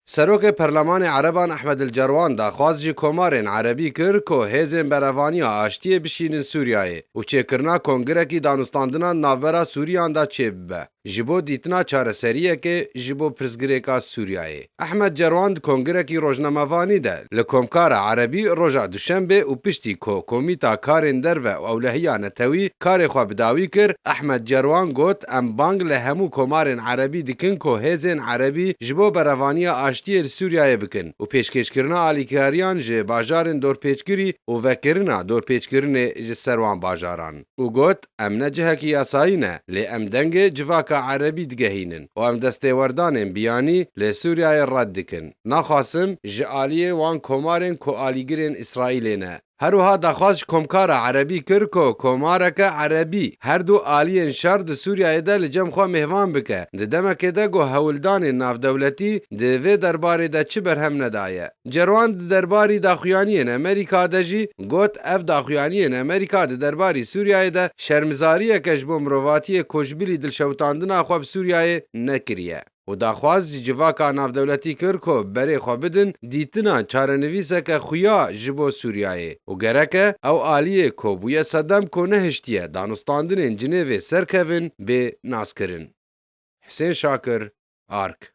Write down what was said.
Serokê Perlemanê Ereban Ehmed El Cerwan daxwaz ji komarên Erebî kir ku hêzên berevaniya aştiyê bişînin Sûriyeyê û çêkirina kongirekî danûstandinan navbera Sûriyan de çêbibe ji bo dîtina çareseriyekê ji bo pirsgirêka Sûriyeyê. Ehmed Cerwan di kongirekî rojnamevanî de li Komkara Erebî roja Duşenbê û piştî ku Komîta Karên Derve û Ewlehiya Netewî karê xwe bi dawî kir, Ehmed Cerwan got, Em bang li hemû komarên erebî dikin ku hêzên erebî ji bo berevaniya aştiyê li Sûriyeyê bikin û pêşkêşkirina alîkariyan ji bajarên dorpêçkirî û vekirina dorpêçkirinê ji ser wan bajaran û got, Em ne cihekî yasayî ne, lê em dengê civaka erebî digehînin û em destêwerdanên biyanî li Sûriyeyê red dikin. Naxwazim ji aliyê wan komarên ku alîgirên Îsraîlê ne, Her wiha daxwaz ji komkara Erebî kir ku komareke Erebî her du aliyên şer di Sûriyeyê de li cem xwe mêvan bike, di demekê de ku hewldanên navdewletî di vê derbarê de çi berhem nedaye. Cerwan di derbarî daxuyaniyên Amerîka de jî got, Ev daxuyaniyên Amerîka di derbarî Sûriyeyê de şermizariyek e ji bo mirovatiyê ku ji bilî dilşewitandina xwe bi Sûriyeyê nekiriye. û daxwaz ji civaka navdewletî kir ku berê xwe bidin dîtina çarenivîseke xuya ji bo Sûriyeyê û gereke ew aliyê ku bûye sedem ku nehiştiye danûstandinên Cinêvê ser kevin bê naskirin. Hisên Şakir, ark.